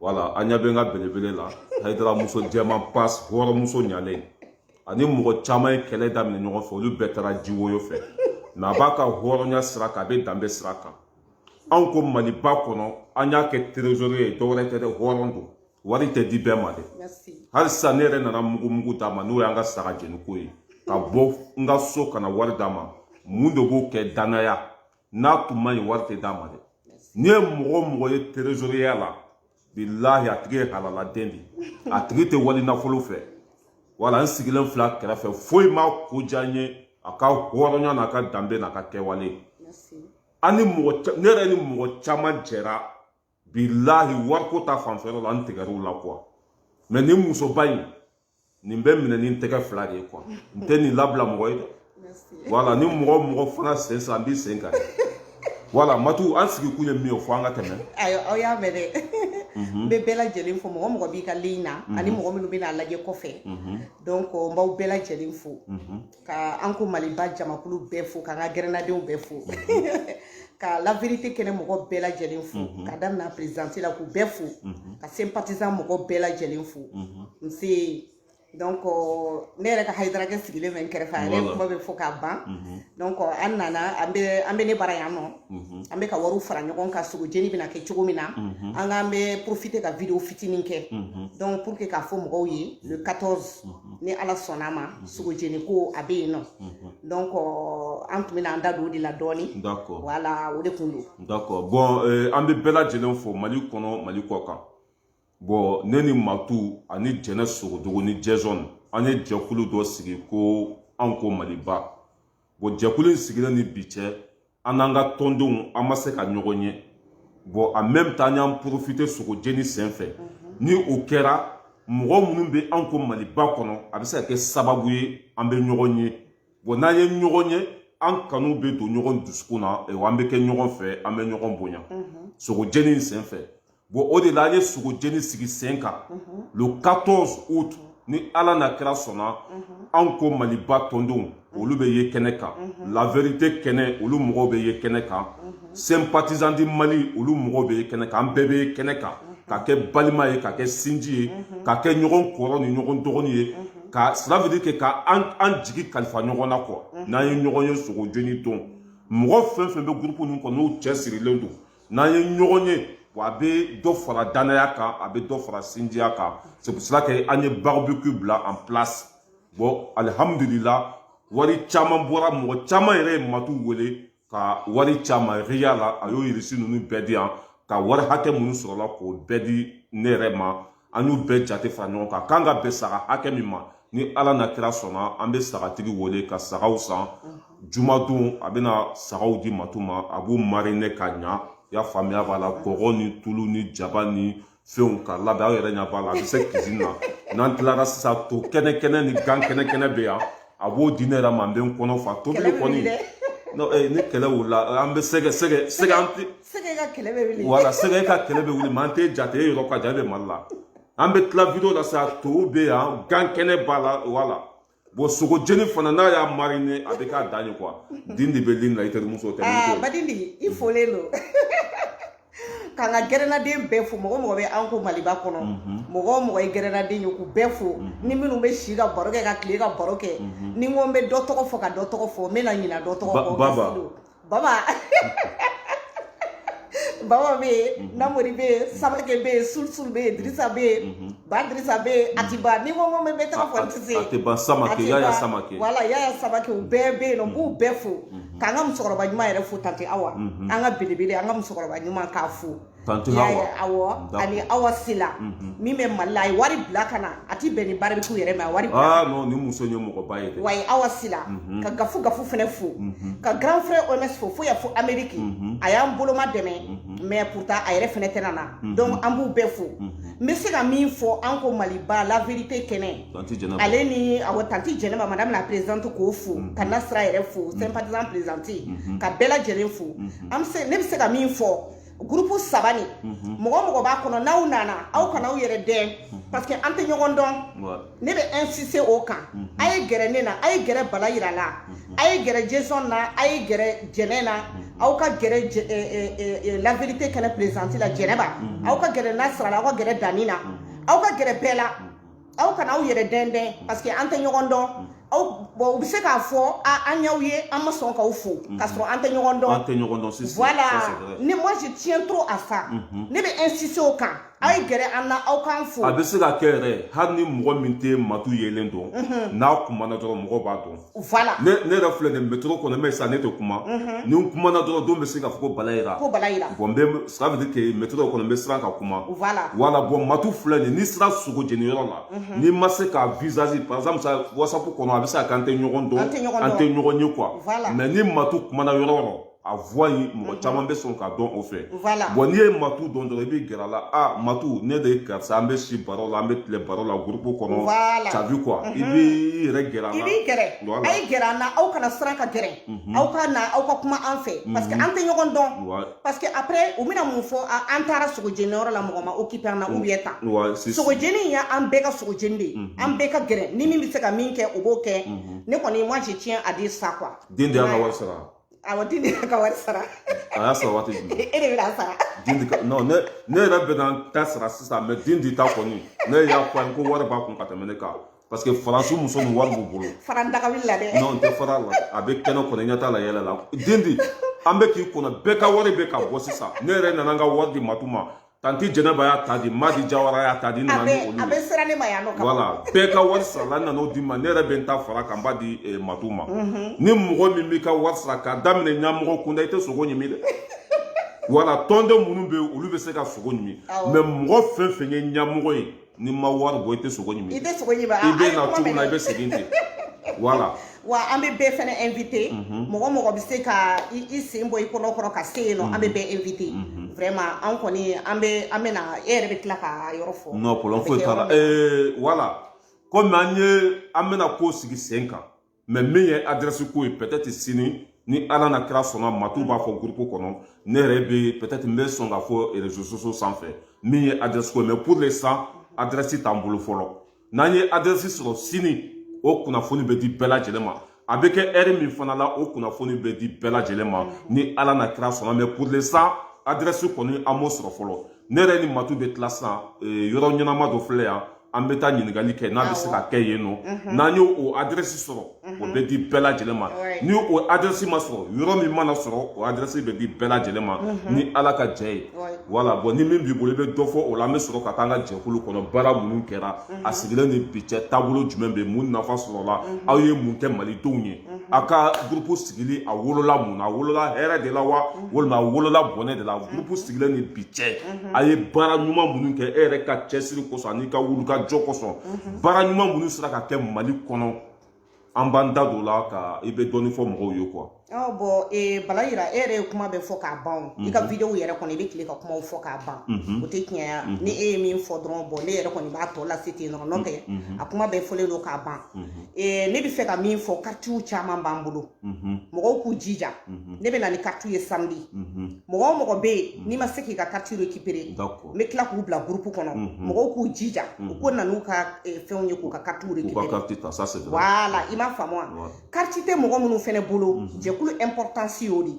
wala an ɲɛ bɛ n ka belebele la hayidara muso jɛman pas hɔrɔnmuso ɲalen ani mɔgɔ caman ye kɛlɛ daminɛ ɲɔgɔn fɛ olu bɛɛ taara jiwoyo fɛ mɛ a b'a ka hɔrɔnya sira kan a bɛ danbe sira kan an ko maliba kɔnɔ an y'a kɛ trésorier ye dɔwɛrɛ tɛ dɛ hɔrɔn don wari tɛ di bɛɛ ma dɛ hali sisan ne yɛrɛ nana mugumugu d'a ma n'o y'an ka saga jeniko ye ka bɔ n ka so ka na wari d'a ma mun de b'o kɛ danaya n'a tun man ɲi wari tɛ d'a ma dɛ n'i ye mɔgɔ o mɔgɔ ye trésoriya la bilahi a tigi ye halaladen de a tigi tɛ wali nafolo fɛ wala n sigilen fil'a kɛrɛfɛ foyi m'a ko diya n ye a ka hɔrɔnya n'a ka danbe n'a ka kɛwale ne yɛrɛ ni mɔgɔ caman jɛra bilahi wariko ta fanfɛ yɔrɔ la n tigɛr'u la kuwa mɛ nin musoba in nin bɛ minɛ ni tɛgɛ fila de ye kuwa n tɛ nin labila mɔgɔ ye dɛ wala ni mɔgɔ mɔgɔ fana sen san n b'i sen kan wala matu an sigi kun ye min ye o fɔ an ka tɛmɛ ayiwa aw y'a mɛn dɛ n bɛ bɛɛ lajɛlen fo mɔgɔ mɔgɔ b'i ka ligne na ani mɔgɔ minnu bɛna a lajɛ kɔfɛ donc n b'aw bɛɛ lajɛlen fo ka an ko maliba jamakulu bɛɛ fo k'an ka gɛrɛnnadenw bɛɛ fo ka la vérité kɛnɛ mɔgɔ bɛɛ lajɛlen fo ka daminɛ présidente la k'u bɛɛ fo ka sympathisant mɔgɔ bɛɛ lajɛlen fo n se donc ne yɛrɛ ka hayidarakɛ sigilen bɛ n kɛrɛfɛ a yɛrɛ kuma bɛ fɔ k'a ban donc an nana an bɛ an bɛ ne bara yan nɔ an bɛ ka wariw fara ɲɔgɔn kan sogo jeni bɛna kɛ cogo min na an k'an bɛ profiter ka vidéo fitinin kɛ donc pour que k'a fɔ mɔgɔw ye le 14 ni ala sɔnn'a ma mhm. sogojeni ko a bɛ yen nɔ mhm. donc an tun bɛna an da don o de la dɔɔni wala o de kun don d'accord bon euh, an bɛ bɛɛ lajɛlen fo mali kɔnɔ mali kɔ kan bon ne ni matu ani jɛnɛ sogodogo ni jɛzɔn an ye jɛkulu dɔ sigi ko an ko maliba bon jɛkulu in sigilen ni bi cɛ an n'an ka tɔndenw an ma se ka ɲɔgɔn ye bon en même temps an y'an profiter sogo jeni sen fɛ ni o kɛra mɔgɔ minnu bɛ an ko maliba kɔnɔ a bɛ se ka kɛ sababu ye an bɛ ɲɔgɔn ye bon n'an ye ɲɔgɔn ye an kanu bɛ don ɲɔgɔn dusukun na an bɛ kɛ ɲɔgɔn fɛ an bɛ ɲɔgɔn bonya sogo jeni sen fɛ bon o de la an ye sogo jeni sigi sen kan le 14 août ni ala n'a kira sɔnna an ko maliba tɔndenw olu bɛ ye kɛnɛ kan la vérité kɛnɛ olu mɔgɔw bɛ ye kɛnɛ kan sympathisant du mali olu mɔgɔw bɛ ye kɛnɛ kan an bɛɛ bɛ ye kɛnɛ kan ka kɛ balima ye ka kɛ sinji ye ka kɛ ɲɔgɔn kɔrɔ ni ɲɔgɔn dɔgɔni ye ka cela veut dire que ka an jigi kalifa ɲɔgɔn na quoi n'an ye ɲɔgɔn ye sogo jeni don mɔgɔ fɛn fɛn bɛ groupe ninnu kɔnɔ n'u cɛ sirilen don n'an ye ɲɔgɔn ye wa a bɛ dɔ fara danaya kan a bɛ dɔ fara sinjiya kan c'est pour cela que an ye barbecue bila en place bon alihamudulila wari caman bɔra mɔgɔ caman yɛrɛ ye matu wele ka wari caman riya la a y'o reçu ninnu bɛɛ di yan ka wari hakɛ minnu sɔrɔla k'o bɛɛ di ne yɛrɛ ma an y'u bɛɛ jate fara ɲɔgɔn kan k'an ka bɛn saga hakɛ min ma ni ala n'a kira sɔnna an bɛ sagatigi wele ka sagaw san jumadon a bɛna sagaw di matu ma a b'u mariner ka ɲa y'a faamuya b'a la kɔgɔ ni tulu ni jaba ni fɛnw ka labɛn aw yɛrɛ ɲɛ b'a la a bɛ se cuisine na n'an tilara sisan to kɛnɛ kɛnɛ ni gan kɛnɛ kɛnɛ bɛ yan a b'o di ne yɛrɛ ma n bɛ n kɔnɔ fa tobili kɔni ni kɛlɛ wulila an bɛ sɛgɛ sɛgɛ sɛgɛ an tɛ sɛgɛ ka kɛlɛ bɛ wuli voilà sɛgɛ ka kɛlɛ bɛ wuli mais an t'e jate e yɔrɔ ka jan e bɛ mali la an bɛ tila vidéo la sa to bɛ yan gan kɛnɛ b'a la voilà bon sogo jeni fana n'a y'a mariner a bɛ k'a dan ye quoi din de bɛ ligne na i terimuso tɛ aa badindi i folen don k'an ka gɛrɛnaden bɛɛ fo mɔgɔ o mɔgɔ bɛ an ko maliba kɔnɔ mɔgɔ o mɔgɔ ye gɛrɛnaden ye k'u bɛɛ fo ni minnu bɛ si ka baro kɛ ka tile ka baro kɛ ni n ko n bɛ dɔ tɔgɔ fɔ ka dɔ tɔgɔ fɔ n bɛna ɲina dɔ tɔgɔ fɔ baba baba baba bɛ yen mhm. namori bɛ yen mhm. samake bɛ yen sulisul bɛ yen dirisa bɛ yen mhm. ba dirisa bɛ yen a ti ban ni n ko n bɛ tɔgɔ fɔ n tɛ se a tɛ ban samake yaya samake voilà yaya samake u bɛɛ bɛ yen nɔ n b'u bɛɛ fo k'an ka musokɔrɔba ɲuman yɛrɛ fo tante awa an ka belebele an ka musokɔrɔba ɲuman k'a fo Tanti Hawa. Y'a ye, awɔ, D'accord. ani Awa Sila, Mhm. min bɛ Mali la, a ye wari bila ka na, a ti bɛn ni barbecue yɛrɛ ma, a ye wari bila. Ah non, nin muso in ye mɔgɔba ye dɛ. Wa a ye Awa Sila, Mhm. ka Gafu Gafu fɛnɛ fo, Mhm. ka grand frère OMS fo, fo yan fo Amérique, Mhm. a y'an boloma dɛmɛ, Mhm. mais pourtant a yɛrɛ fɛnɛ tɛna na, Mhm. donc an b'u bɛɛ fo. Mhm. N bɛ se ka min fɔ an ko Maliba la vérité kɛnɛ, Tanti Jɛnɛba. ale ni awɔ tanti Jɛnɛba madame la présidente k'o fo, Mhm. ka Nasira yɛrɛ fo, sympathisant présidente, Mhm. ka bɛɛ lajɛlen fo. Mhm. An bɛ se, ne bɛ se ka min fɔ groupe saba nin mhm. mɔgɔ o mɔgɔ b'a kɔnɔ n'aw nana aw kana aw yɛrɛ dɛn mhm. parce que an tɛ ɲɔgɔn dɔn ne bɛ insister o kan mhm. a ye gɛrɛ ne na a ye gɛrɛ bala yira la a ye gɛrɛ jason na a ye gɛrɛ jɛnɛ na aw ka gɛrɛ eh, eh, eh, la vérité kɛnɛ présidente la jɛnɛba aw ka gɛrɛ nasira la aw ka gɛrɛ dani na aw ka gɛrɛ bɛɛ la aw kana aw yɛrɛ dɛndɛn parce que an tɛ ɲɔgɔn dɔn mm. aw bon u bɛ se k'a fɔ a an y'aw ye an ma sɔn k'aw fo mm-hmm. k'a sɔrɔ an tɛ ɲɔgɔn dɔn an tɛ ɲɔgɔn dɔn sisan voilà ne moi je tiens trop à ça mm-hmm. ne bɛ insister o kan a ye gɛrɛ an na aw k'an fo a bɛ se ka kɛ yɛrɛ hali ni mɔgɔ min tɛ matu yelen dɔn mm-hmm. n'a kumana dɔrɔn mɔgɔ b'a dɔn Voilà. Ne ne yɛrɛ filɛ nin métro kɔnɔ mais sa ne tɛ kuma. Ni n kumana dɔrɔn dɔ bɛ se k'a fɔ ko Bala Yira. Ko Bala Yira. Bon n bɛ ça veut dire que métro kɔnɔ n bɛ siran ka kuma. Voilà. Voilà bon Matu filɛ nin n'i sera sogo jeniyɔrɔ la. N'i ma se k'a visage par exemple sa WhatsApp kɔnɔ a bɛ se ka kɛ an tɛ ɲɔgɔn dɔn. An tɛ ɲɔgɔn dɔn. An tɛ ɲɔgɔn ye quoi. Voilà. Mais ni Matu kumana yɔrɔ o yɔrɔ. a voix in mɔgɔ mhm. caman bɛ sɔn k'a dɔn o fɛ bon n'i ye matu dɔn dɔrɔn i bɛ gɛrɛ a la a matu ne de ye karisa an bɛ si baro la an bɛ tile baro la gurupu kɔnɔ t'as vu quoi i mhm. bɛ i yɛrɛ gɛrɛ a la i b'i gɛrɛ a ye gɛrɛ an na aw kana siran ka gɛrɛ mhm. aw ka na aw ka kuma an fɛ parce que an tɛ ɲɔgɔn dɔn parce que après u bɛna mun fɔ an taara sogo jeni yɔrɔ la mɔgɔ ma occupé an na ou bien tan sogo jeni ye an bɛɛ ka sogo jeni de ye an bɛɛ ka gɛrɛ ni min bɛ se ka min kɛ o b'o kɛ ne kɔni moi je tiens à dire ça quoi dendi y'a ka wari sara awɔ dendi y'a ka wari sara a y'a sara waati jumɛn e de bɛna sara dendi ka non ne ne yɛrɛ bɛna n ta sara sisan mais dendi ta kɔni ne y'a fɔ a ye ko wari b'a kun ka tɛmɛ ne kan parce que faransi muso ni wari b'u bolo fara n daga wuli la dɛ non n tɛ fara a la a bɛ kɛnɛ kɔnɔ i ɲɛ t'a la yɛlɛ la dendi an bɛ k'i kɔnɔ bɛɛ ka wari bɛ ka bɔ sisan ne yɛrɛ nana n ka wari di matu ma tanti jɛnɛba y'a ta di madi jawara y'a ta di n nana ni olu a bɛɛ sera ne ma yan nɔ voilà bɛɛ ka wari sarala n nan'o di ma ne yɛrɛ bɛ n ta fara a kan n b'a di eh, matu ma mhm. ni mɔgɔ min m'i ka wari sara k'a daminɛ ɲamɔgɔ kunda i tɛ sogo ɲimi dɛ voilà tɔnden minnu bɛ yen olu bɛ se ka sogo ɲimi mais mɔgɔ fɛn fɛn ye ɲamɔgɔ ye n'i ma wari bɔ i tɛ sogo ɲimi i tɛ sogo ɲimi i bɛ na cogo min na i bɛ segin ten voilà wa an bɛ bɛɛ fana invité mɔgɔ o mɔgɔ bɛ se ka i sen bɔ i kɔnɔ kɔrɔ ka se yen nɔ an bɛ bɛɛ invité vraiment an kɔni an bɛ an bɛ na e yɛrɛ bɛ tila ka yɔrɔ fɔ non problème foyi t'a la ee voilà komi an ye an bɛna ko sigi sen kan mais min ye adrɛsi ko ye peut-être sini ni ala n'a kira sɔnna matu b'a fɔ gurupu kɔnɔ ne yɛrɛ bɛ peut-être n bɛ sɔn k'a fɔ réseaux sociaux sanfɛ min ye adrɛsi ko ye mais pour l'instant adrɛsi t'an bolo fɔlɔ n'an ye adrɛsi sɔrɔ sini o kunnafoni bɛ di bɛɛ lajɛlen ma a bɛ kɛ heure min fana la o kunnafoni bɛ di bɛɛ lajɛlen ma ni ala n'a kira sɔnna mais pour l'instant adrɛsi kɔni an m'o sɔrɔ fɔlɔ ne yɛrɛ ni matu bɛ tila sisan yɔrɔ ɲɛnama dɔ filɛ yan an bɛ taa ɲininkali kɛ n'a bɛ se ka kɛ yen nɔ n'an y'o o adrɛsi sɔrɔ o bɛ di bɛɛ lajɛlen ma ni o adrɛsi ma sɔrɔ yɔrɔ min mana sɔrɔ o adrɛsi bɛ di bɛɛ lajɛlen ma ni ala ka jɛ ye voilà bon ni min b'i bolo i bɛ dɔ fɔ o la an bɛ sɔrɔ ka taa an ka jɛkulu kɔnɔ baara minnu kɛra a sigilen ni bi cɛ taabolo jumɛn bɛ mun nafa sɔrɔla aw ye mun kɛ malidenw ye a ka gurupu sigili a wolola mun na a wolola hɛrɛ de la wa walima a wolola bɔnɛ de la gurupu sigilen ni bi cɛ a ye baara ɲuman minnu kɛ e yɛrɛ ka cɛsiri kosɔn an'i ka wulikajɔ kosɔn baara ɲuman minnu sera ka kɛ mali kɔnɔ an b'an da don o la ka i bɛ dɔɔnin fɔ mɔgɔw ye quoi ɔ bon ee bala yira e yɛrɛ ye kuma bɛɛ fɔ k'a ban o. i ka videow yɛrɛ kɔnɔ i bɛ tile ka kumaw fɔ k'a ban o tɛ tiɲɛ ye ni e ye min fɔ dɔrɔn bon ne yɛrɛ kɔni b'a tɔ lase ten dɔrɔn n'o tɛ a kuma bɛɛ fɔlen don k'a ban Eh, ne bɛ fɛ ka min fɔ karitiw caman b'an bolo mhm. mɔgɔw k'u jija mhm. ne bɛ na ni karitiw ye samedi mhm. mɔgɔ o mɔgɔ bɛ yen n'i ma se k'i ka kariti récupérer n bɛ tila k'u bila groupe kɔnɔ mɔgɔw k'u jija u ko na n'u ka eh, fɛnw ye k'u ka karitiw récupérer voilà i m'a faamu wa kariti tɛ mɔgɔ minnu fɛnɛ bolo jɛkulu importance y'o de ye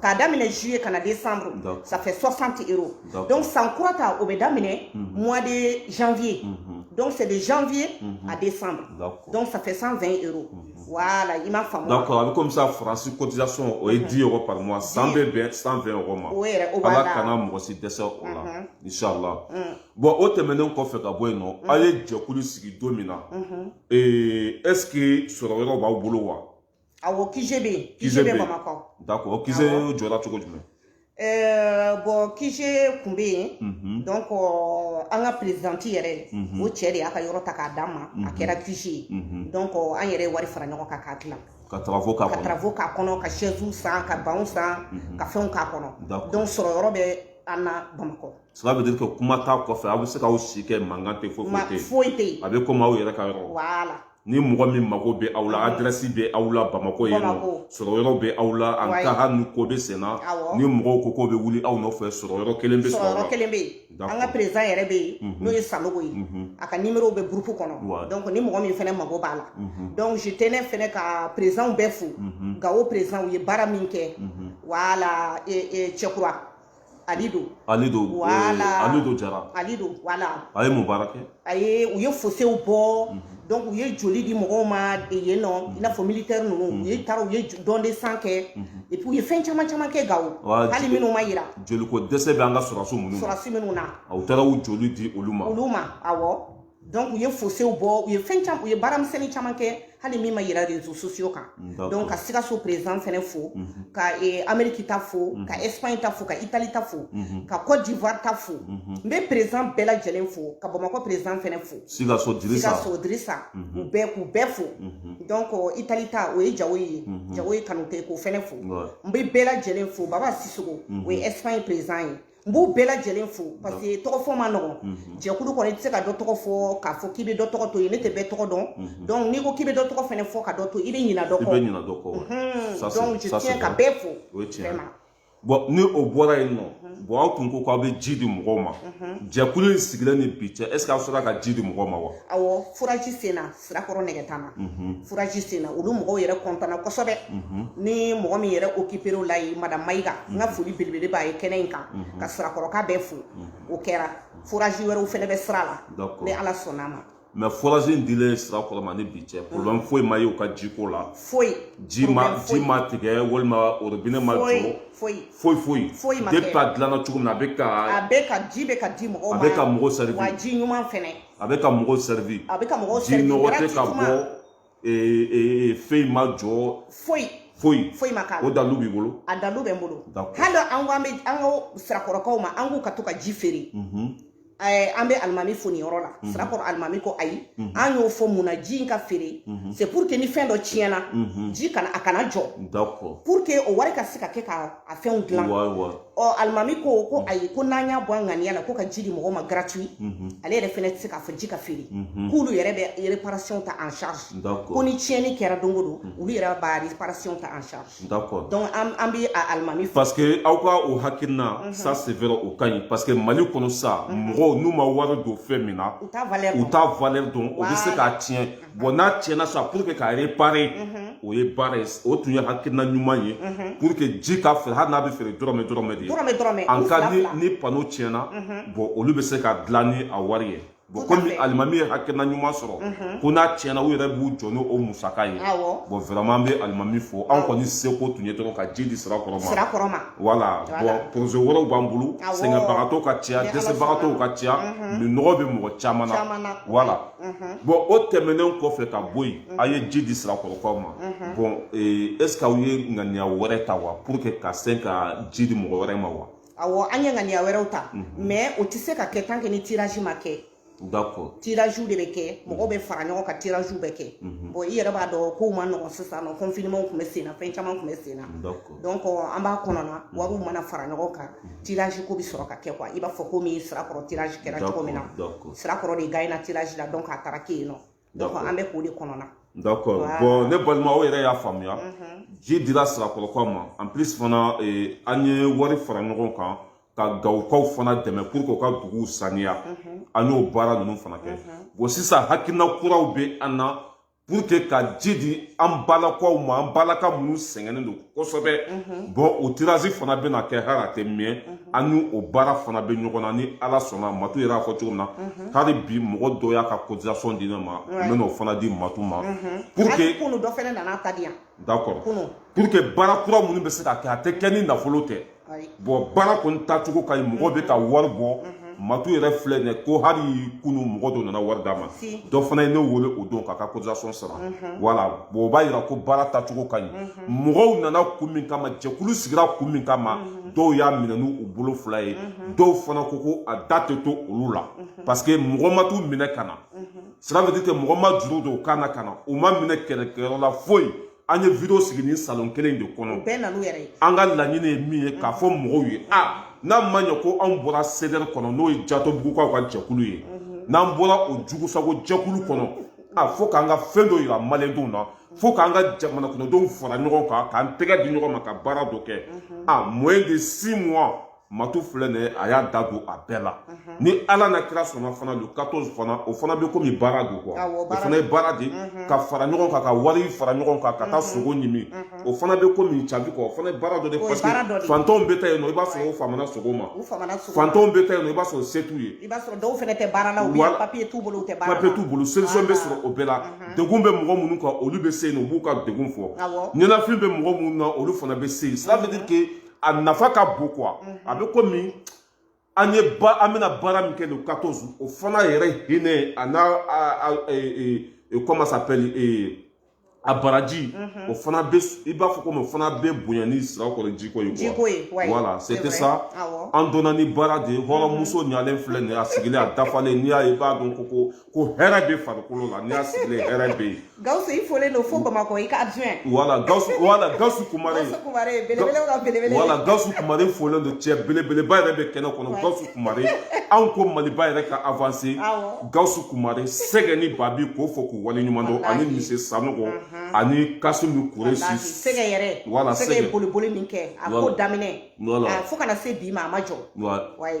K'a daminɛ juillet ka na décembre ça fait 60 euros donc san kura ta o bɛ daminɛ mois de janvier donc c'est de janvier à décembre donc ça fait 120 euros voilà i m'a faamu d'accord a bɛ komi sisan France cotisation o ye 10 euros par mois san bɛ bɛn 120 euros ma o yɛrɛ o b'a la Ala kana mɔgɔ si dɛsɛ o la inchallah bon o tɛmɛnen kɔfɛ ka bɔ yen nɔ a ye jɛkulu sigi don min na est ce que sɔrɔ yɔrɔ b'aw bolo wa awɔ QG bɛ yen QG bɛ bamakɔ d'accord o QG jɔra cogo jumɛn Euh, bon QG kun bɛ yen mhm. donc euh, an ka présidente yɛrɛ mhm. o cɛ de y'a ka yɔrɔ ta k'a d'an ma a mhm. kɛra QG ye donc euh, an yɛrɛ ye wari fara ɲɔgɔn kan k'a dilan ka travaux k'a kɔnɔ ka travaux k'a kɔnɔ ka chaises san ka bancs san ka fɛnw k'a kɔnɔ donc sɔrɔ yɔrɔ bɛ an na bamakɔ cela veut dire que kuma t'a kɔfɛ aw bɛ se k'aw si kɛ mankan tɛ foyi foyi tɛ yen foyi tɛ yen a bɛ komi aw yɛrɛ ka yɔrɔ voilà ni mɔgɔ min mago bɛ aw la adrɛsi bɛ aw la bamakɔ yen nɔ sɔrɔ yɔrɔ bɛ aw la an ka hali ni ko bɛ sen na ni mɔgɔw ko k'u bɛ wuli aw nɔfɛ sɔrɔ yɔrɔ kelen bɛ sɔrɔ yɔrɔ kelen bɛ yen an ka président yɛrɛ bɛ yen n'o ye sanogo ye a ka nimero bɛ groupe kɔnɔ donc ni mɔgɔ min fɛnɛ mago b'a la donc je tenais fɛnɛ ka présidentw bɛɛ fo gawo président u ye baara min kɛ voilà cɛkura alido alido voilà eh, alido jara alido voilà a ye mun baara kɛ a ye u ye fosew bɔ mhm. donc u ye joli di mɔgɔw ma yen nɔ i n'a fɔ militaire ninnu u ye mhm. taara u ye don de sang kɛ mhm. et puis u ye fɛn caman caman kɛ gawo hali minnu ma yira joliko dɛsɛ bɛ an ka sɔrɔdasi minnu na sɔrɔdasi minnu na u taara u joli di olu ma olu ma awɔ donc u ye fosew bɔ u ye fɛn caman u ye baara misɛnnin caman kɛ hali min ma yira réseaux sociaux kan donc ka sikaso président fɛnɛ fo mhm. ka eh, amérique ta fo mhm. ka espagne ta fo ka italie ta fo mhm. ka cote d'ivoire ta fo n bɛ président bɛɛ lajɛlen fo ka bamakɔ président fɛnɛ fo sikaso dirisa sikaso dirisa u bɛɛ k'u bɛɛ fo donc italie ta o ye jawoye jawoye kanute k'o fɛnɛ fo n bɛ bɛɛ lajɛlen fo baba sisoko o ye espagne président ye n b'u bɛɛ lajɛlen fo parce que tɔgɔ fɔ ma nɔgɔ jɛkulu kɔnɔ i tɛ se ka dɔ tɔgɔ fɔ k'a fɔ k'i bɛ dɔ tɔgɔ to yen ne tɛ bɛɛ tɔgɔ dɔn donc n'i ko k'i bɛ dɔ tɔgɔ fɛnɛ fɔ ka dɔ to i bɛ ɲina dɔ kɔ donc je tiens ka bɛɛ fo vraiment bon ni o bɔra yen nɔ bon aw tun ko k'aw bɛ ji di mɔgɔw ma jɛkulu in sigilen ni bi cɛ est ce que aw sera ka ji di mɔgɔw ma wa awɔ forage senna sirakɔrɔ nɛgɛtana forage sen na olu mɔgɔw yɛrɛ kɔntana kosɛbɛ ni mɔgɔ min yɛrɛ occupé o la ye madame mayiga n ka foli belebele b'a ye kɛnɛ in kan ka sirakɔrɔka bɛɛ fo o kɛra forage wɛrɛw fɛnɛ bɛ sira la ni ala sɔnn'a ma mais forage in dilen sirakɔrɔ ma ni bi cɛ problème foyi ma ye u ka jiko la foyi ji ma ji ma tigɛ walima robinet ma jɔ foyi foyi foyi foyi ma kɛ depuis a dilanna cogo min na a bɛ ka a bɛ ka ji bɛ ka di mɔgɔw ma a bɛ ka mɔgɔw servir wa ji ɲuman fɛnɛ a bɛ ka mɔgɔw servir a bɛ ka mɔgɔw servir ji nɔgɔ tɛ ka bɔ fɛn ma jɔ foyi foyi foyi ma k'a la o dalilu b'i bolo a dalilu bɛ n bolo hali an ko an bɛ an ko sirakɔrɔkaw ma an k'u ka to ka ji feere an bɛ alimami fo nin yɔrɔ la sirakɔrɔ alimami ko ayi an y'o fɔ mun na ji in ka feere c'est pour que ni fɛn dɔ tiɲɛna ji kana a kana jɔ pour que o wari ka se ka kɛ ka a fɛnw dilan ɔ alimami ko ko ayi ko n'an y'a bɔ an ŋaniya la ko ka ji di mɔgɔ ma gratuit ale yɛrɛ fɛnɛ tɛ se k'a fɔ ji ka feere k'olu yɛrɛ bɛ réparation ta en charge ko ni tiɲɛni kɛra don o don olu yɛrɛ b'a réparation ta en charge donc an bɛ a alimami fo parce que aw ka o hakilina ça c'est vrai o ka ɲi parce que Mali kɔnɔ sa mɔgɔw n'u ma wari don fɛn min na u t'a valeur dɔn u t'a valeur dɔn u bɛ se k'a tiɲɛ bon n'a tiɲɛna sa pour que k'a réparer mhm. o ye baara ye o tun ye hakilina ɲuman ye mhm. pour que ji ka feere hali n'a bɛ feere dɔrɔmɛ dɔrɔmɛ de ye en cas ni ni panneau tiɲɛna mhm. bon olu bɛ se k'a dilan ni a wari ye bon komi alimami ye hakilina ɲuman sɔrɔ ko n'a tiɲɛna u yɛrɛ b'u jɔ n'o musaka ye bon vraiment an bɛ alimami fo an kɔni seko tun ye dɔrɔn ka ji di sirakɔrɔ ma voilà bon projet wɛrɛw b'an bolo sɛgɛnbagatɔw ka ca dɛsɛbagatɔw ka ca minɔgɔ bɛ mɔgɔ caman na voilà Mhm. bon o tɛmɛnen kɔfɛ ka bɔ yen mhm. a ye ji di sirakɔrɔkaw ma mhm. bon eh, est ce que aw ye ŋaniya wɛrɛ ta wa pour que ka se ka ji di mɔgɔ wɛrɛ ma wa awɔ an ye ŋaniya wɛrɛw ta mais o tɛ se ka kɛ tant que ni tirage ma kɛ d'accord tirage de bɛ kɛ mɔgɔw bɛ fara ɲɔgɔn kan tirage bɛ kɛ bon i yɛrɛ b'a dɔn kow man nɔgɔn sisan nɔ confinement tun bɛ sen na fɛn caman tun bɛ sen na donc an b'a kɔnɔna wariw mana fara ɲɔgɔn kan tirage ko bɛ sɔrɔ ka kɛ quoi i b'a fɔ komi sirakɔrɔ tirage kɛra cogo min na sirakɔrɔ de gagnéna tirage la donc a taara kɛ yen nɔ donc an bɛ k'o de kɔnɔna D'accord. Voilà. Bon, ne balima aw yɛrɛ y'a faamuya. Ji dira sirakɔrɔkaw ma. En plus fana eh, an ye wari fara ɲɔgɔn kan ka gawukaw fana dɛmɛ pour que u ka duguw saniya. An y'o baara ninnu fana kɛ. Bon sisan hakilina kuraw bɛ an na pour que ka ji di an balakaw ma an balaka minnu sɛgɛnnen don kosɛbɛ bon o tirage fana bɛna kɛ hali a tɛ mɛn an ni o baara fana bɛ ɲɔgɔn na ni ala sɔnna matu yɛrɛ y'a fɔ cogo min na hali bi mɔgɔ dɔ y'a ka cotisation di ne ma n bɛna o fana di matu ma pour que kunu dɔ fɛnɛ nana ta di yan d'accord pour que baara kura minnu bɛ se ka kɛ a tɛ kɛ ni nafolo tɛ bon baara kɔni tacogo ka ɲi mɔgɔ bɛ ka wari bɔ matu yɛrɛ filɛ nin ye ko hali kunu mɔgɔ dɔ nana wari d'a ma dɔ fana ye ne wele o don k'a ka cotisation sara voilà bon o b'a yira ko baara tacogo ka ɲi mɔgɔw nana kun min kama jɛkulu sigira kun min kama dɔw y'a minɛ n'u bolo fila ye dɔw fana ko ko a da tɛ to olu la parce que mɔgɔ ma t'u minɛ ka na cela veut dire que mɔgɔ ma juru don u kan na ka na u ma minɛ kɛlɛkɛyɔrɔ la foyi an ye video sigi nin salon kelen de kɔnɔ bɛɛ na n'u yɛrɛ ye an ka laɲini ye min ye k'a fɔ mɔgɔw ye a n'a ma ɲɛ ko anw bɔra CDR kɔnɔ n'o ye jatɔbugukaw ka jɛkulu ye n'an bɔra o jugusago jɛkulu kɔnɔ a fo k'an ka fɛn dɔ yira malidenw na fo k'an ka jamana kɔnɔdenw fara ɲɔgɔn kan k'an tɛgɛ di ɲɔgɔn ma ka baara dɔ kɛ en moins de six mois matu filɛ nin ye a y'a da don a bɛɛ la ni ala n'a kira sɔnna fana le 14 fana o fana bɛ komi baara don quoi o fana ye baara de ka fara ɲɔgɔn kan ka wari fara ɲɔgɔn kan ka taa sogo ɲimi o fana bɛ komi cabi quoi o fana ye baara dɔ de parce que fantanw bɛ taa yen nɔ i b'a sɔrɔ u famana sogo ma fantanw bɛ taa yen nɔ i b'a sɔrɔ se t'u ye i b'a sɔrɔ dɔw fana tɛ baara la u bɛ papiye t'u bolo u tɛ baara la papiye t'u bolo solution bɛ sɔrɔ o bɛɛ la degun bɛ mɔgɔ minnu kan olu bɛ se yen nɔ u b'u ka degun fɔ ɲɛnafin bɛ mɔgɔ minnu na olu fana bɛ se yen ça veut dire que a nafa ka bon quoi mhm. a bɛ komi an ye ba an bɛna baara min kɛ le 14 o fana yɛrɛ hinɛ a n'a e, e, e, comment s'appelle a baraji mhm. o fana bɛ i b'a fɔ komi o fana bɛ bonya ni sirakɔrɔ jiko ye jiko ye voilà c'était ça an donna ni baara de ye hɔrɔnmuso mhm. ɲalen filɛ nin ye a sigilen a dafalen n'i y'a ye i b'a dɔn ko ko ko hɛrɛ bɛ farikolo la n'i y'a sigilen hɛrɛ bɛ yen. gawusu i folen don fo bamakɔ i ka adjoint. voilà gawusu voilà gawusu kumare. gawusu kumare belebele ka belebele. voilà gawusu kumare folen don cɛ belebeleba yɛrɛ bɛ kɛnɛ kɔnɔ gawusu kumare anw ko maliba yɛrɛ ka avanse. awɔ gawusu kumare sɛgɛ ni babi k'o fɔ k'u waleɲuman dɔn ani mise sanogo ani kasimu kuresi. sɛgɛ yɛrɛ voilà sɛgɛ boliboli min kɛ a ko daminɛ. voilà fo ka na se bi ma a ma jɔ. voilà wayi.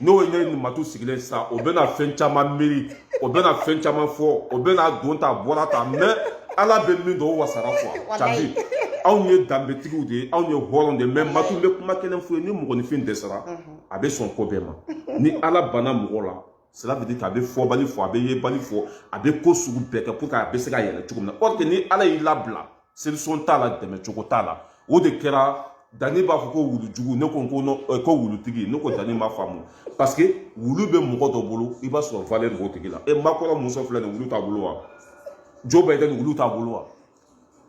n'o ye ne ni matu sigilen sisan o bɛna fɛn caman miiri o bɛna fɛn caman fɔ o bɛna don ta bɔra ta mais ala bɛ min dɔn o wasara quoi cadi anw ye danbetigiw de ye anw ye hɔrɔn de ye mais matu bɛ kuma kelen f'u ye ni mɔgɔninfin dɛsɛra a bɛ sɔn ko bɛɛ ma ni ala banna mɔgɔ la cela veut dire k'a bɛ fɔbali fɔ a bɛ yebali fɔ a bɛ ko sugu bɛɛ kɛ pour que a bɛ se ka yɛlɛ cogo min na or que ni ala y'i labila solution t'a la dɛmɛ cogo t'a la o de kɛra dani b'a fɔ ko wulujugu ne ko ko ko wulutigi ne ko dani m'a faamu parce que wulu bɛ mɔgɔ dɔ bolo i b'a sɔrɔ valeur b'o tigi la e macron muso filɛ nin wulu t'a bolo wa joe biden wulu t'a bolo wa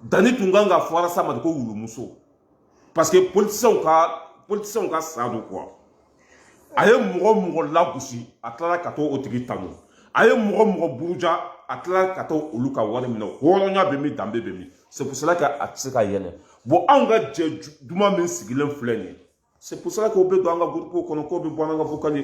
dani tun kan k'a fɔ arasa ma de ko wulumuso parce que politiciens ka politiciens ka sa don quoi a ye mɔgɔ mɔgɔ lagosi a tilala ka t'o tigi tanu a ye mɔgɔ mɔgɔ buruja a tilala ka taa olu ka wari minɛ hɔrɔnya bɛ min danbe bɛ min c'est pour cela que a tɛ se ka yɛlɛ bon anw ka jɛ duman min sigilen filɛ nin ye c'est pour cela que o bɛ don an ka groupe kɔnɔ k'o bɛ bɔ an ka vocal ye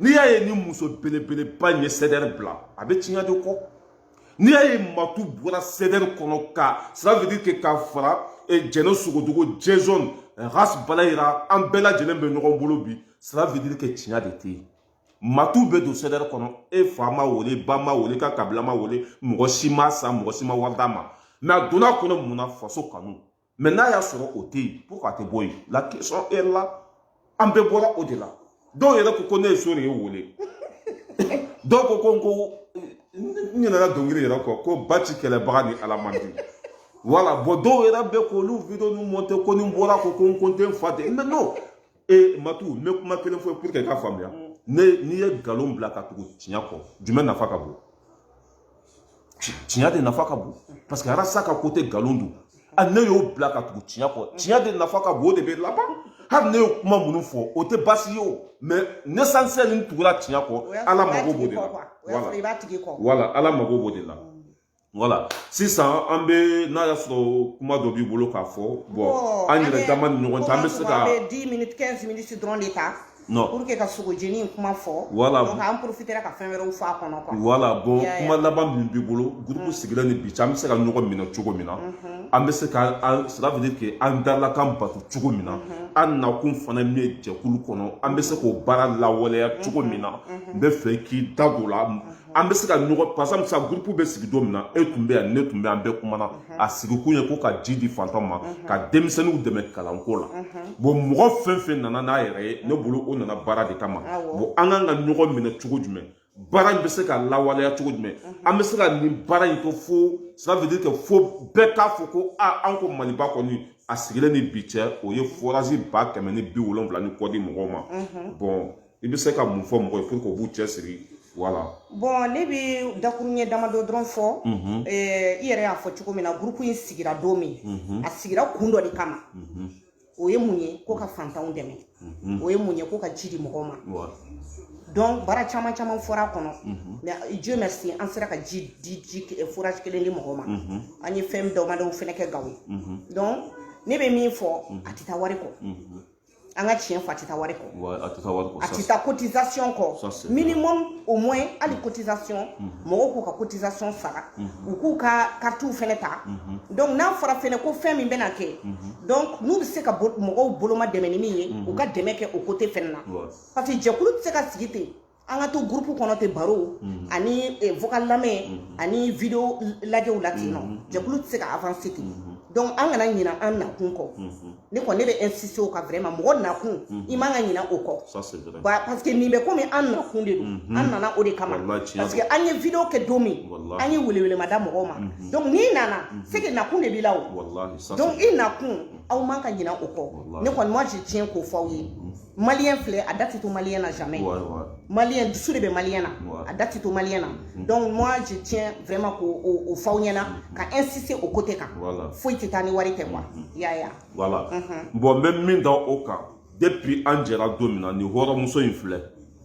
n'i y'a ye ni muso belebeleba in ye CDR bila a bɛ tiɲɛ de kɔ n'i y'a ye matu bɔra CDR kɔnɔ ka cela veut dire que ka fara eh, jɛnɛ sogodogo jɛzɔn eh, ras bala yira an bɛɛ lajɛlen bɛ ɲɔgɔn bolo bi cela veut dire que tiɲɛ de tɛ yen matu bɛ don CDR kɔnɔ e fa ma wele ba ma wele ka kabila ma wele mɔgɔ si m'a san mɔgɔ si ma wari d'a ma mais a donna a kɔnɔ mun na faso kanu mais n'a y'a sɔrɔ o tɛ yen pourquoi a tɛ bɔ yen la question est là an bɛɛ bɔra o de la dɔw yɛrɛ ko ko ne ye so de ye wele dɔw ko ko n ko n ɲinɛna dɔnkili yɛrɛ kɔ ko ba ci kɛlɛbaga ni ala man di voilà bon dɔw yɛrɛ bɛ k'olu video ninnu monter ko ni n bɔra ko ko n ko n tɛ n fa tɛ mais non ee matu n bɛ kuma kelen fɔ pour que i k'a faamuya mm. ne n'i ye nkalon bila ka tugu tiɲɛ kɔ jumɛn nafa ka bon tiɲɛ de nafa ka bon parce que arasa ka côté nkalon don a ne y'o bila ka tugu tiɲɛ kɔ tiɲɛ de nafa ka bon o de bɛ laban hali ne ye kuma minnu fɔ o tɛ baasi ye o mais l'essentiel n tugula tiɲɛ kɔ ala mago b'o de la voilà ala mago b'o de la voilà sisan an bɛ n'a y'a sɔrɔ kuma dɔ b'i bolo k'a fɔ bon an yɛrɛ dama ni ɲɔgɔn cɛ an bɛ se ka. an bɛ dix minutes quinze minutes dɔrɔn de ta. non pour que ka sogojeni in kuma fɔ. voilà donc an profitera ka fɛn wɛrɛw fɔ a kɔnɔ quoi. voilà bon kuma laban min b'i bolo groupe sigilen ni bi cɛ an bɛ se ka ɲɔgɔn minɛ cogo min na. an bɛ se ka an cela veut dire que an dalakan bato cogo min na. an nakun fana min ye jɛkulu kɔnɔ an bɛ se k'o baara lawaleya cogo min na. n bɛ fɛ k'i da don o la. an bɛ se ka ɲɔgɔn par exemple sa groupe bɛ sigi don min na e tun bɛ yan ne tun bɛ an bɛɛ kumana mhm. a sigikun ye ko ka ji di fantan ma mhm. ka denmisɛnninw dɛmɛ kalanko la mhm. bon mɔgɔ fɛn fɛn nana n'a yɛrɛ ye ne bolo o nana baara de kama bon an kan ka ɲɔgɔn minɛ cogo jumɛn baara in bɛ se ka lawaleya cogo jumɛn an bɛ se ka nin baara in kɛ fo cela veut dire que fo bɛɛ k'a fɔ ko a an ko maliba kɔni a sigilen ni bi cɛ o ye forage ba kɛmɛ ni bi wolonwula ni kɔ di mɔgɔw ma bon i bɛ se ka mun fɔ mɔgɔ ye pour que u b'u cɛsiri voilà bon ne bɛ dakuruɲɛ damadɔ dɔrɔn fɔ i yɛrɛ y'a fɔ cogo min na groupe in sigira don min a sigira kun dɔ de kama o ye mun ye ko ka fantanw dɛmɛ o ye mun ye ko ka ji di mɔgɔw ma donc baara caman caman fɔra a kɔnɔ mais dieu merci an sera ka ji di ji forage kelen di mɔgɔw ma an ye fɛn damadɔw fɛnɛ kɛ gawo yen donc ne bɛ min fɔ a tɛ taa wari kɔ an ka tiɲɛ fɔ a tɛ taa wari kɔ Wa a tɛ taa wari kɔ a tɛ taa cotisation Ça, kɔ c'est minimum au moins hali cotisation mɔgɔw k'u ka cotisation sara u k'u ka karitiw fɛnɛ ta donc n'a fɔra fɛnɛ ko fɛn min bɛna kɛ donc n'u bɛ se ka bo- mɔgɔw boloma dɛmɛ ni min ye u ka dɛmɛ kɛ o côté fɛnɛ na Wa. parce que jɛkulu tɛ se ka sigi ten an ka to gurupu kɔnɔ ten baro mhm. ani eh, vocal lamɛn mhm. ani video lajɛw la ten nɔ mhm. jɛkulu tɛ se ka avancer ten donc an kana ɲina an nakun kɔ ne kɔni ne bɛ insister o kan vraiment mɔgɔ nakun i man ka ɲina o kɔ parce que nin bɛ komi an nakun de don an nana o de kama parce que an ye video kɛ don min an ye welewelema da mɔgɔw ma donc n'i nana c'est que nakun de b'i la o donc i nakun aw man ka ɲina o kɔ ne kɔni moi je tiens k'o fɔ aw ye maliyɛn filɛ a da tɛ to maliyɛn na jamais maliyɛn dusu de bɛ maliyɛn na a da tɛ to maliyɛn na mm-hmm. donc moi je tiens vraiment k'o fɔ aw ɲɛna mm-hmm. ka insister o côté kan foyi tɛ taa ni wari tɛ quoi mm-hmm. ya ya voilà bon n bɛ min da o kan depuis an jɛra don min na nin hɔrɔnmuso in filɛ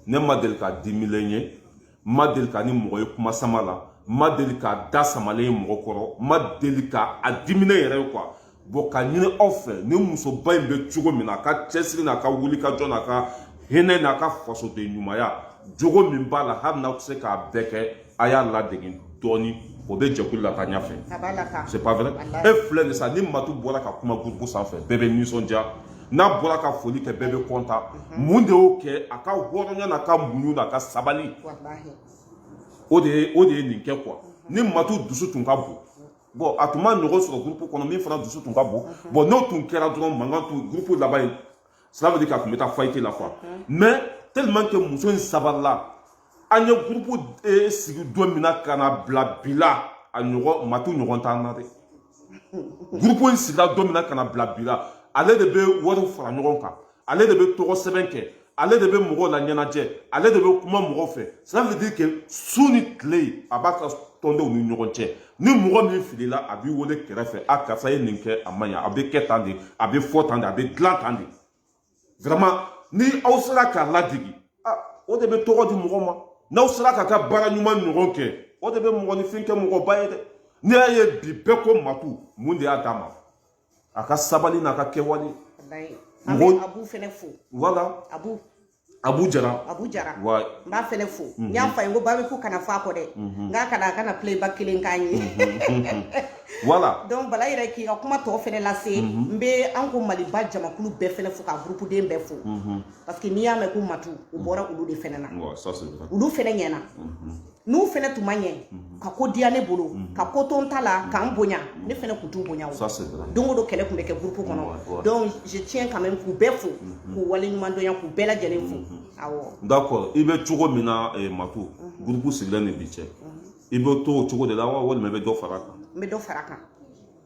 ne ma deli k'a dimilen ye ma deli k'a ni mɔgɔ ye kuma sama la ma deli k'a da samalen ye mɔgɔ kɔrɔ ma deli ka a diminen yɛrɛ ye quoi bon k'a ɲini aw fɛ ni musoba in bɛ cogo min na a ka cɛsiri n'a ka wulikajɔ n'a ka hinɛ n'a ka fasoden ɲumanya jogo min b'a la hali n'aw tɛ se k'a bɛɛ kɛ a y'a ladege dɔɔni o bɛ jɛkulu lataa ɲɛfɛ c'est pas vrai e filɛ nin sa ni matu bɔra ka kuma groupe sanfɛ bɛɛ bɛ nisɔndiya n'a bɔra ka foli kɛ bɛɛ bɛ content mun de y'o kɛ a ka hɔrɔnya n'a ka muɲu n'a ka sabali o de ye o de ye nin kɛ quoi ni matu dusu tun ka bon bon a tun ma ɲɔgɔn sɔrɔ gurupu kɔnɔ min fana dusu tun ka bon bon n'o tun kɛra dɔrɔn mankan tun gurupu laban ye cela veut dire k'a tun bɛ taa faillite la quoi mais tellement que muso in sabarila an ye gurupu eh, sigi don min na ka na bila bi la a ɲɔgɔn matu ɲɔgɔn t'an na dɛ gurupu in sigira don min na ka na bila bi la ale de bɛ wariw fara ɲɔgɔn kan ale de bɛ tɔgɔ sɛbɛn kɛ ale de bɛ mɔgɔw laɲɛnajɛ ale de bɛ kuma mɔgɔw fɛ ça veut dire que su ni tile a b'a ka tɔndenw ni ɲɔgɔn cɛ ni mɔgɔ min filila a b'i wele kɛrɛfɛ a karisa ye nin kɛ a ma ɲa a bɛ kɛ tan de a bɛ fɔ tan de a bɛ dilan tan de vraiment ni aw sera k'a ladege ah, o de bɛ tɔgɔ di mɔgɔ ma n'aw sera k'a ka baara ɲuman ɲɔgɔn kɛ o de bɛ mɔgɔninfin kɛ mɔgɔba ye dɛ n'i y'a ye bi bɛɛ ko matu mun de y'a d'a ma a ka sabali n'a ka kɛwale an bɛ Abu fɛnɛ fo voilà Abu Abu Jara. Abu Jara. Wa. N b'a fɛnɛ fo. N y'a fɔ a ye n ko ba bi ko kana fɔ a kɔ dɛ. N k'a kana a kana playback kelen k'an ye. Voilà. Donc Bala yɛrɛ k'i ka kuma tɔ fɛnɛ lase. N bɛ an ko Maliba jamakulu bɛɛ fɛnɛ fo ka groupe den bɛɛ fo. Parce que n'i y'a mɛn ko Matu, o bɔra olu de fɛnɛ na. Wa ça c'est vrai. Olu fɛnɛ ɲɛna. n'u fɛnɛ tun ma ɲɛ mhm. ka ko diya ne bolo mhm. ka ko to n ta la mhm. ka n bonya ne fɛnɛ tun t'u bonya don o don kɛlɛ tun bɛ kɛ gurupu kɔnɔ donc je tiens quand même k'u bɛɛ fo k'u waleɲumandɔnya k'u bɛɛ lajɛlen fo awɔ d'accord i bɛ cogo min na eh, matu gurupu sigilen ni bi cɛ i bɛ to o cogo de la wa walima i bɛ dɔ fara a kan n bɛ dɔ fara a kan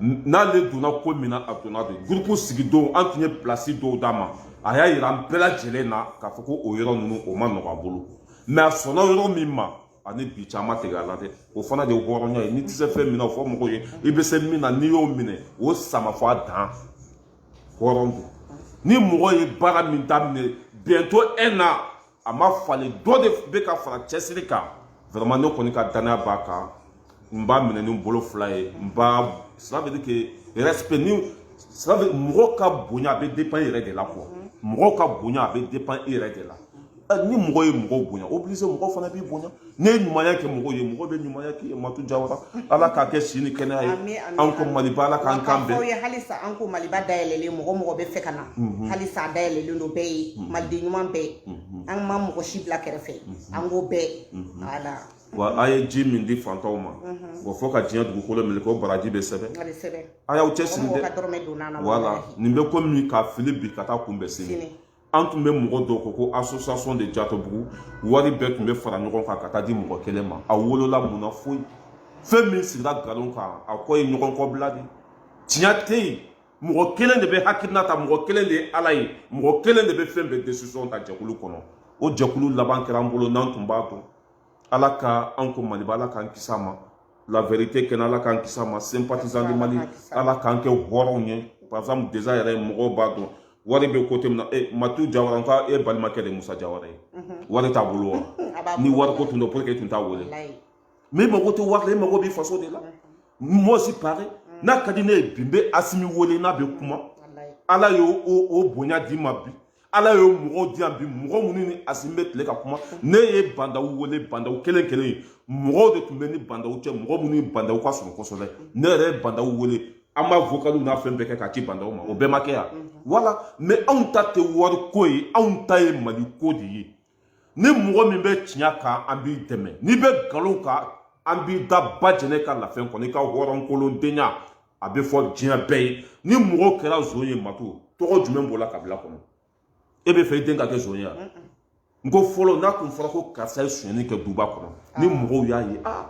n'ale donna ko min na a donna de gurupu sigidon an tun ye pilasi dɔw d'a ma a y'a yira an bɛɛ lajɛlen na k'a fɔ ko o yɔrɔ ninnu o man nɔgɔ a bolo mais a sɔnna yɔrɔ min ma a ni bi cɛ a ma tigɛ a la dɛ o fana de ye hɔrɔnya ye n'i tɛ se fɛn min na o fɔ mɔgɔw ye i bɛ se min na n'i y'o minɛ o sama fo a dan hɔrɔn don ni mɔgɔ ye baara min daminɛ bientôt un an a ma falen dɔ de bɛ ka fara cɛsiri kan vraiment ne kɔni ka danaya b'a kan n b'a minɛ ni n bolo fila ye n b'a cela veut dire que respect ni cela veut mɔgɔ ka bonya a bɛ dépend i yɛrɛ de la quoi mɔgɔ ka bonya a bɛ dépend i yɛrɛ de la ni mɔgɔ ye mɔgɔ bonya obligé mɔgɔ fana b'i bonya ne ye ɲumanya kɛ mɔgɔ ye mɔgɔ bɛ ɲumanya k'i ye matu jawara ala k'a kɛ si ni kɛnɛya ye Ami, ami, an ko ami. maliba ala k'an kan K'a fɔ aw bɛn ye halisa an ko maliba dayɛlɛlen mɔgɔ mɔgɔ bɛ fɛ ka na halisa a dayɛlɛlen don bɛɛ ye maliden ɲuman bɛɛ an ma mɔgɔ si bila kɛrɛfɛ an ko bɛɛ voilà wa a ye ji min di fantanw ma wa fo ka diɲɛ dugukolo minɛ ko baraji bɛ sɛbɛn a bɛ sɛbɛn a y'aw cɛsiri mɔgɔ ka dɛ dɔrɔmɛ donna a na voilà walahi. nin bɛ komi ka fili bi ka taa kunbɛn sini Sini. an tun bɛ mɔgɔ dɔw kɔ ko association de jatobugu wari bɛɛ tun bɛ fara ɲɔgɔn kan ka taa di mɔgɔ kelen ma a wolola mun na foyi fɛn min sigira nkalon kan a kɔ ye ɲɔgɔn kɔbila de tiɲɛ tɛ yen mɔgɔ kelen de bɛ hakilina ta mɔgɔ kelen de ye ala ye mɔgɔ kelen de bɛ fɛn bɛɛ décision ta jɛkulu kɔnɔ o jɛkulu laban kɛra an bolo n'an tun b'a dɔn ala ka an ko maliba ala k'an kisi a ma la vérité kɛnɛ ala k'an kisi a ma sympathisant du mali ala k'an kɛ hɔrɔnw ye par exemple déjà yɛrɛ mɔgɔw b'a dɔn wari bɛ côté min na e matu jawara nka e balimakɛ de musa jawara ye wari t'a bolo wa ni wari ko tun don pourquoi e tun t'a wele mais e mago tɛ wari la e mago b'i faso de la moi aussi pareil n'a ka di ne ye bi n bɛ asimi wele n'a bɛ kuma ala y'o bonya di n ma bi ala ye mɔgɔw di yan bi mɔgɔ minnu ni asimi bɛ tile ka kuma ne ye bandaw wele bandaw kelen kelen ye mɔgɔw de tun bɛ n ni bandaw cɛ mɔgɔ minnu ni bandaw ka surun kosɛbɛ ne yɛrɛ ye bandaw wele an b'a vokaliw n'a fɛn bɛɛ kɛ k'a ci bandaw ma o bɛɛ ma kɛ yan voilà mais anw ta tɛ wari ko ye anw ta ye mali ko de ye ni mɔgɔ min bɛ tiɲɛ kan an b'i dɛmɛ n'i bɛ nkalon kan an b'i da ba jɛnɛ ka lafɛn kɔnɔ i ka hɔrɔnkolondenya a bɛ fɔ diɲɛ bɛɛ ye ni mɔgɔ kɛra zon ye matu tɔgɔ jumɛn b'o la kabila kɔnɔ e b'a fɛ i den ka kɛ zon ye wa n ko fɔlɔ n'a tun fɔra ko karisa ye sonyani kɛ duba kɔnɔ ah. ni mɔgɔw y'a ye aa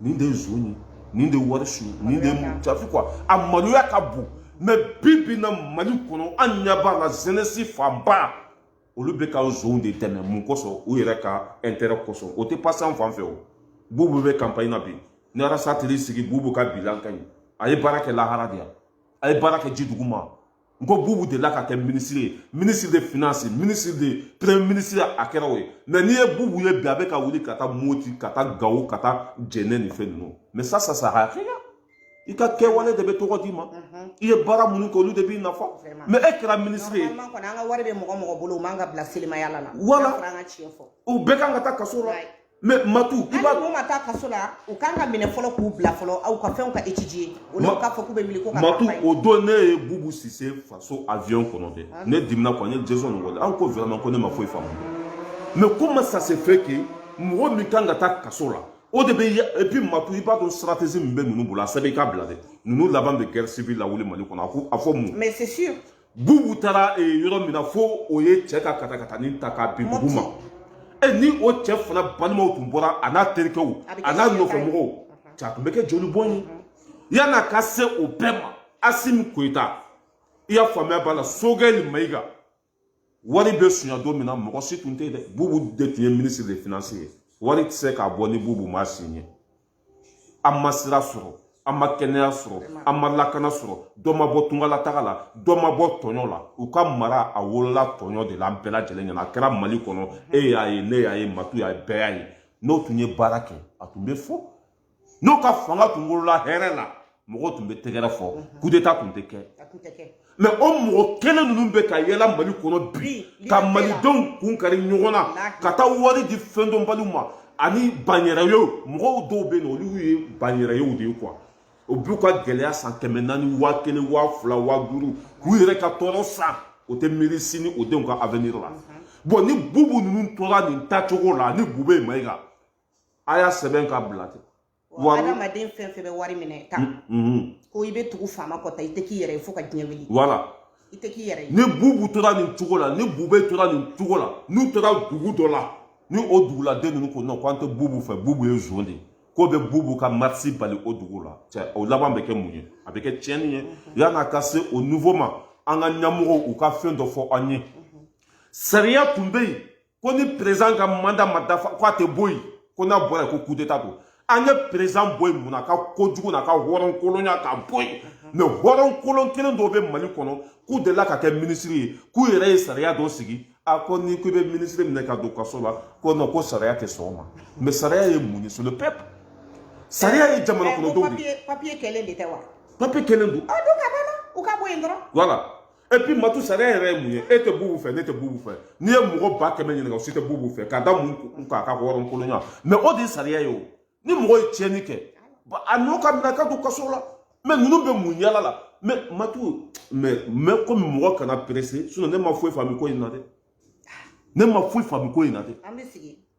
nin de ye zon ye nin de ye wari su nin de ye jafi quoi a maloya ka bon mais bi bi na mali kɔnɔ an ɲɛ b'a la jeunesse fanba olu bɛ ka zonw de dɛmɛ mun kosɔn u yɛrɛ ka intérêt kosɔn o tɛ passer an fan fɛ o bubu bɛ campagne na bi ni arasa teri sigi bubu ka bilan ka ɲi a ye baara kɛ lahara de yan a ye baara kɛ ji dugu ma n ko bubu delila ka kɛ minisiri ye ministre de finance ministre de premier ministre a kɛra o ye mɛ n'i ye bubu ye bi a bɛ ka wuli ka taa moti ka taa gawo ka taa jɛnɛ ni fɛn ninnu mais ça ça sert à rien i ka kɛwale de bɛ tɔgɔ d'i ma mhm. i ye baara minnu kɛ olu de b'i nafa mɛ e kɛra minisiri ye normalement kɔni an ka wari bɛ mɔgɔ mɔgɔ bolo o man kan ka bila selimayaala la voilà an ka tiɲɛ fɔ u bɛɛ kan ka taa kaso la mɛ matu i b'a n'u ma taa kaso la u kan ka minɛ fɔlɔ k'u bila fɔlɔ aw ka fɛnw ka étudier olu k'a fɔ k'u bɛ wuli ko ka matu o don ne ye bubu sise faso avion kɔnɔ dɛ ah. ne dimina quoi n ye jason nin wale aw ko vraiment ko ne ma foyi faamu mais comment ça se fait que mɔgɔ min kan ka taa kaso la o de bɛ et puis matu i b'a dɔn stratégie min bɛ ninnu bolo a sɛbɛn i k'a bila dɛ ninnu laban bɛ guerre civile lawuli mali kɔnɔ a ko a fɔ mun. mais c'est sûr. bubu taara yɔrɔ min na fo o ye cɛ ka katakatani ta k'a bin dugu ma e ni o cɛ fana balimaw tun bɔra a n'a terikɛw a n'a nɔfɛmɔgɔw cɛ a tun bɛ kɛ jolibɔn ye yan'a ka se o bɛɛ ma asimi koyita i y'a faamuya b'a la sogɛli mayiga wari bɛ sunya don min na mɔgɔ si tun tɛ yen dɛ bubu de tun ye ministre de finance ye wari tɛ se ka bɔ ni bubu m'a signé an ma sira sɔrɔ an ma kɛnɛya sɔrɔ an ma lakana sɔrɔ dɔ ma bɔ tungalataga la dɔ ma bɔ tɔɲɔ la u ka mara a wolola tɔɲɔ de la an bɛɛ lajɛlen ɲɛna a kɛra mali kɔnɔ e y'a ye ne y'a ye matu y'a ye bɛɛ y'a ye n'o tun ye baara kɛ a tun bɛ fɔ n'o ka fanga tun wolola hɛrɛ la mɔgɔ tun bɛ tɛgɛrɛ fɔ mhm. kudeta tun tɛ kɛ mɛ o mɔgɔ kelen ninnu bɛ ka yaala mali kɔnɔ bi ka malidenw kun kari ɲɔgɔn na ka taa wari di fɛndɔnbaliw ma ani banyɛrɛyew mɔgɔw dɔw bɛ yen olu ye banyɛrɛyew de ye quoi o b'u ka gɛlɛya san kɛmɛ naani waa kelen waa fila waa duuru k'u yɛrɛ ka tɔɔrɔ san o tɛ miiri sini o denw ka avenir la mhm. bɔn ni bubu ninnu tora nin tacogo la ni bube mayiga a y'a sɛbɛn k'a bila ten wa adamaden fɛn fɛn bɛ wari minɛ tan ko i bɛ tugu faama kɔ tan i tɛ k'i yɛrɛ ye fo ka diɲɛ wuli voilà i tɛ k'i yɛrɛ ye ni bubu tora nin cogo la ni bube tora nin cogo la n'u tora dugu dɔ la ni o duguladen ninnu ko non k'an tɛ bubu fɛ bubu ye zon de ye k'u bɛ bubu ka marisi bali o dugu la cɛ o laban bɛ kɛ mun ye a bɛ kɛ tiɲɛni ye yan'a ka se o niveau ma an ka ɲɛmɔgɔw u ka fɛn dɔ fɔ an ye sariya tun bɛ yen ko ni président ka mandat ma dafa ko a tɛ bɔ yen ko n'a bɔra yen ko kudeta don an ye président bɔ yen mun na a ka kojugu n'a ka hɔrɔnkolonya ka bɔ yen mɛ hɔrɔnkolon kelen dɔw bɛ mali kɔnɔ k'u delila ka kɛ minisiri ye k'u yɛrɛ ye sariya dɔ sigi a ko ni ko i bɛ minisiri minɛ ka don kaso la ko non ko sariya tɛ sɔn o ma mɛ sariya ye mun ye c'est le peuple sariya ye jamana kɔnɔdenw de ye papiye kɛlen de tɛ wa papiye kɛlen don a don ka ban u ka bɔ yen dɔrɔn voilà et puis matu sariya yɛrɛ ye mun ye e tɛ bubu fɛ ne tɛ bubu fɛ n'i ye mɔgɔ ba kɛmɛ ɲininka o si tɛ bubu fɛ k'a da mun kan a ka hɔrɔnkolonya mais o de ye sariya ye o ni mɔgɔ ye tiɲɛni kɛ a n'o ka minɛ ka don kaso la mais ninnu bɛ mun yaala la mais matu mais mais komi mɔgɔ kana pressé sinon ne ma foyi faamu ko in na dɛ ne ma foyi faamu ko in na dɛ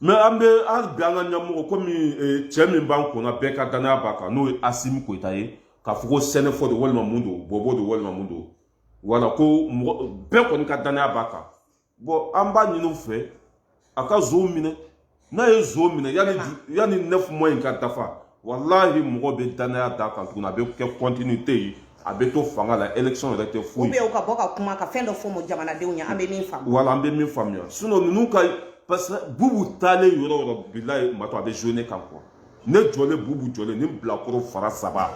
mais an bɛ an bɛ an ka ɲɛmɔgɔ komi eh, cɛ min b'an kunna bɛɛ ka danaya b'a kan n'o ye asimi koyita ye k'a fɔ ko sɛnɛfɔ don walima mun don bɔbɔ don walima mun don voilà ko mɔgɔ bɛɛ kɔni ka danaya b'a kan bon an b'a ɲini u fɛ a ka zonw minɛ n'a ye zon minɛ yanni yanni neuf mois in ka dafa walahi mɔgɔ bɛ danaya d'a kan tuguni a bɛ kɛ continuité ye a bɛ to fanga la élection yɛrɛ tɛ foyi ye ou bien u ka bɔ ka kuma ka fɛn dɔ fɔ mɔ jamanadenw ɲɛ an bɛ min faamu voilà an bɛ min faamuya sinon ninnu ka parce que bubu taalen yɔrɔ o yɔrɔ bilayi matu a bɛ jouer ne kan quoi ne jɔlen bubu jɔlen ni bilakoro fara saba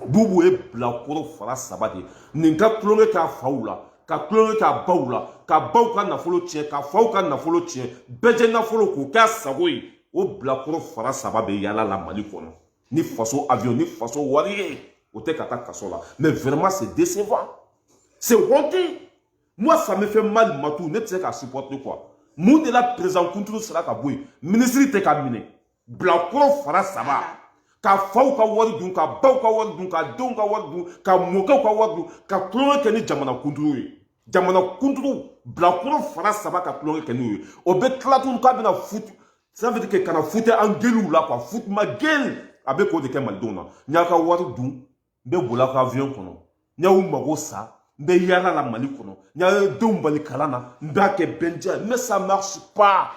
bubu ye bilakoro fara saba de ye nin ka tulonkɛ k'a faw la ka tulonkɛ k'a baw la ka baw ka nafolo tiɲɛ ka faw ka nafolo tiɲɛ bɛɛ jɛ nafolo k'o k'a sago ye o bilakoro fara saba bɛ yaala la mali kɔnɔ ni faso avion ni faso wari ye o tɛ ka taa kaso la mais vraiment c'est décevant c'est honteux moi ça me fait mal matu ne tɛ se k'a supporter quoi mun de la président kunturu sera ka bɔ yen minisiri tɛ ka minɛ bilakoro fara saba ka faw ka wari dun ka baw ka wari dun ka denw ka wari dun ka mɔkɛw ka wari dun ka tulonkɛ kɛ ni jamana kunturu ye jamana kunturu bilakoro fara saba ka tulonkɛ kɛ n'u ye o bɛ tila tun k'a bɛna futu ça veut dire que kana fouter an gueulew la quoi fout ma gueule a bɛ k'o de kɛ malidenw na n y'a ka wari dun n bɛ bol'a ka avion kɔnɔ n y'aw mago sa n bɛ yaala la mali kɔnɔ n y'a denw bali kalan na n b'a kɛ bɛnja mais ça marche pas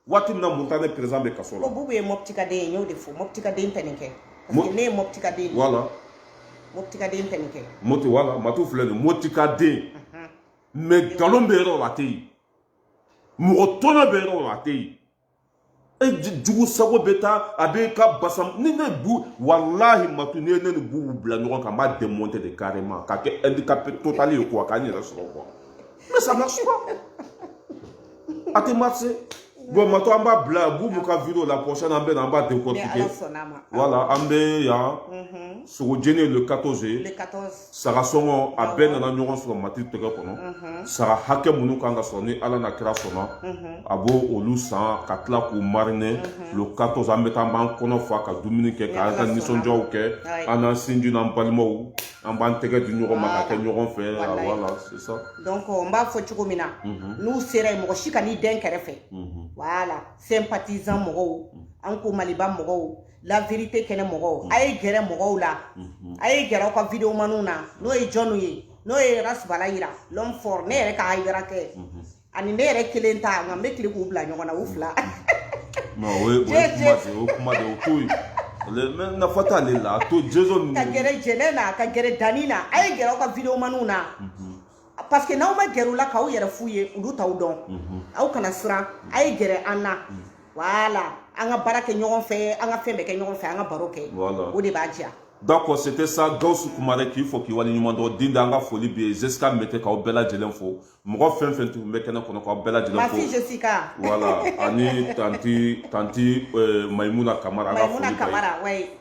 waati min na mɔritani président bɛ kaso la. ko bubu ye mɔptikaden ye n y'o de fɔ mɔptikaden tɛ nin kɛ. parce que ne ye mɔptikaden ye. voilà. mɔptikaden tɛ nin kɛ. mɔti voilà matu filɛ nin mɔtikaden. mais nkalon bɛ yɔrɔ la a tɛ yen mɔgɔ tɔnɔ bɛ yɔrɔ la a tɛ yen e jugu sago bɛ taa a bɛ ka basa ni ne bu walahi matu n'i ye ne ni bubu bila ɲɔgɔn kan n b'a démonter de carrément k'a kɛ handicapé total ye quoi ka n yɛrɛ sɔrɔ quoi mais ça marche pas. a tɛ marcher bon matu an b'a bila bubu ka vidéo la prochaine an bɛ na an b'a décortiquer voilà an bɛ yan mhm. sogojeni le 14 ye saga sɔngɔ a bɛɛ nana ɲɔgɔn sɔrɔ mati tɛgɛ kɔnɔ mhm. saga hakɛ minnu kan ka sɔrɔ ni ala n'a kira sɔnna mhm. a b'o olu san ka tila k'u mariner le 14 an bɛ taa an b'an kɔnɔ fa ka dumuni kɛ k'an ka nisɔndiyaw kɛ an n'an sinji n'an balimaw an b'an tɛgɛ di ɲɔgɔn ma ka kɛ ɲɔgɔn fɛ voilà c'est ça donc n b'a fɔ cogo min na n'u sera yen mɔgɔ si kan'i dɛn kɛrɛfɛ voilà sympathisant mɔgɔw an ko maliba mɔgɔw la vérité kɛnɛ mɔgɔw a ye gɛrɛ mɔgɔw la a ye gɛrɛ aw ka video maniw na n'o ye jɔnw ye n'o ye rasibala yira l'homme fort ne yɛrɛ ka hayidara kɛ ani ne yɛrɛ kelen ta nka n bɛ tila k'u bila ɲɔgɔn na u fila o ye kuma de ye o ye kuma de ye o to yen mais nafa t'ale la a to jesu ka gɛrɛ jɛnɛ na ka gɛrɛ dani na a ye gɛrɛ aw ka video maniw na parce que n'aw ma gɛrɛ u la k'aw yɛrɛ f'u ye olu t'aw dɔn aw kana siran a ye gɛrɛ an na voilà an ka baara kɛ ɲɔgɔn fɛ an ka fɛn bɛɛ kɛ ɲɔgɔn fɛ an ka baro kɛ voilà. o de b'a diya D'accord, c'était ça. Gawusu Kumare k'i fo k'i waleɲuman dɔn. Din an ka foli bɛ yen. Jessica Mete k'aw bɛɛ lajɛlen fo. Mɔgɔ fɛn fɛn tun bɛ kɛnɛ kɔnɔ k'aw bɛɛ lajɛlen fo. Merci Jessica. Voilà, ani tanti tanti euh, Maïmouna Kamara. Maïmouna Kamara, oui.